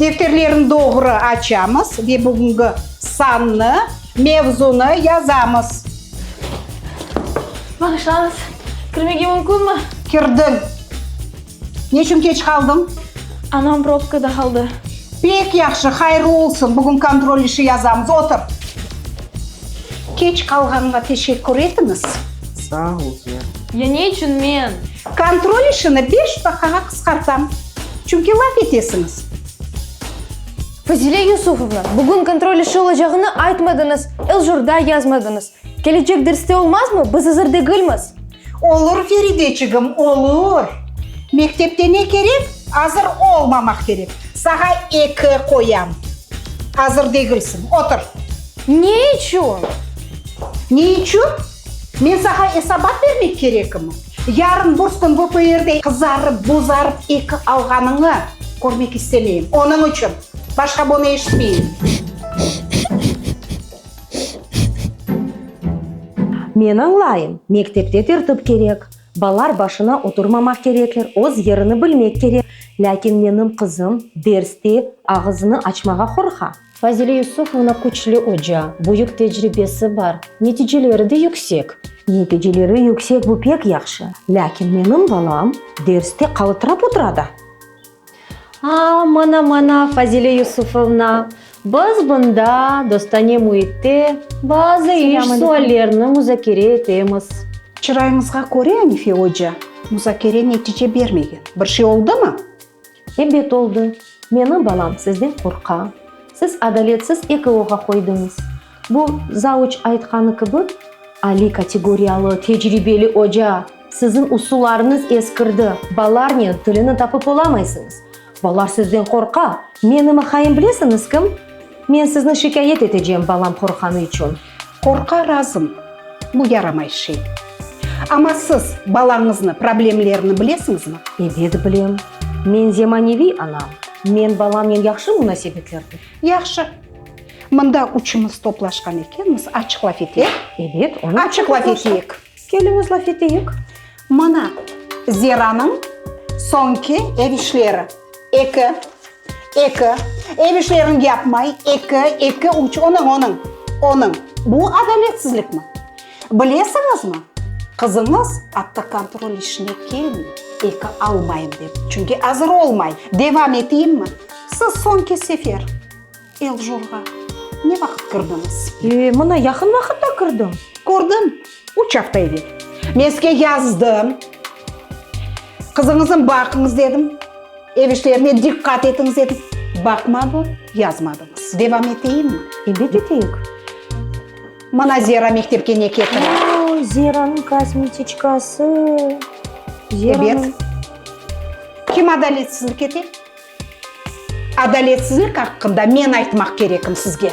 Defterlerni doğru açamız ve bugüngi sannı, mevzunı yazamız. Bağışlañız, kirmege mümkünmi? Kirdiñ. Ne içün keç qaldıñ? Anam probkada qaldı. Pek yahşı, hayırlı olsun. Bugün kontrol işi yazamız. Otur. Keç qalğanıma teşekkür etiñiz. Sağ ol, Ziyad. Ya ne içün men? Kontrol işini beş daqqağa qısqartam, çünki laf etesiñiz. Fazile Yusufovna, bugün kontrol işi olacağını aytmadıñız, el-jorda yazmadıñız. Kelecek derste olmazmı? Biz azır degilmiz. Olur, Ferideçigim, olur. Mektepte ne kerek? Azır olmamaq kerek. Saña eki qoyam. Azır degilsiñ. Otur. Ne içün? Ne içün? Men saña esabat bermek kerekmi? Yarın burs kün VPRde qızarıp, bozarıp eki alğanıñı körmek istemeyim. Onıñ içün. Başqa bunı eşitmeyim. Men añlayım, mektepte tertip kerek, balar başına oturmamaq kerekler, öz yerini bilmek kerek, lâkin menim qızım derste ağızını açmağa qorqa. Fazile Yusufovna küçlü oca, büyük tecribesi bar, neticeleri de yüksek. Neticeleri yüksek, bu pek yahşı, lâkin menim balam derste qalıtırap otura da. Aa, mana-mana, Fazile Yusufovna, biz bunda, dostane müitte, bazı iş suallerni muzakere etemiz. Çırayıñızğa köre, Anife oca, muzakere netice bermegen. Bir şey oldumı? Ebet oldı. Menim balam sizden qorqa. Siz adaletsiz EKOğa qoydıñız. Bu, zavuç aytqanı kibi, aliy kategoriyalı, tecribeli oca. Siziñ usullarıñız eskirdi, balarnen tilini tapıp olamaysıñız. Balar sizden qorqa. Menim aqayım bilesiñiz kim? Men sizni şikâyet etecem balam qorqqanı içün. Qorqa razım, bu yaramay şey. Amma siz balañıznı problemlerini bilesiñizmi? Ebet bilem. Men zemaneviy ana. Men balamnen yahşı munasebetlerdim. Yahşı. Mında üçümiz toplaşqan ekenmiz, açıq laf eteyik. Ebet, onıñ içün de toplaştıq. Keliñiz, laf eteyik. Mana, Zeranıñ soñki ev işleri, eki, eki, ev işlerini yapmay, eki, eki, üç, onıñ, onıñ, onıñ. Bu adaletsizlikmi? Bilesiñizmi, qızıñız atta kontrol işine kelmey, eki almayım dep, çünki azır olmay. Devam eteyimmi? Siz soñki sefer. Eljurğa ne vaqıt kirdiñiz? Mına yaqın vaqıtta kirdim. Kördim, üç afta evel. Men sizge yazdım, qızıñıznı baqıñız dedim, ev işlerine diqqat etiñiz dedim. Baqmadım, yazmadıñız. Devam eteyimmi? Elbet eteyik. Mına Zera mektepke ne ketire? Oy, Zeranıñ kosmetiçkası. Zeranıñ. Ebet. Kim adaletsizlik ete? Adaletsizlik aqqında men aytmaq kerekim sizge.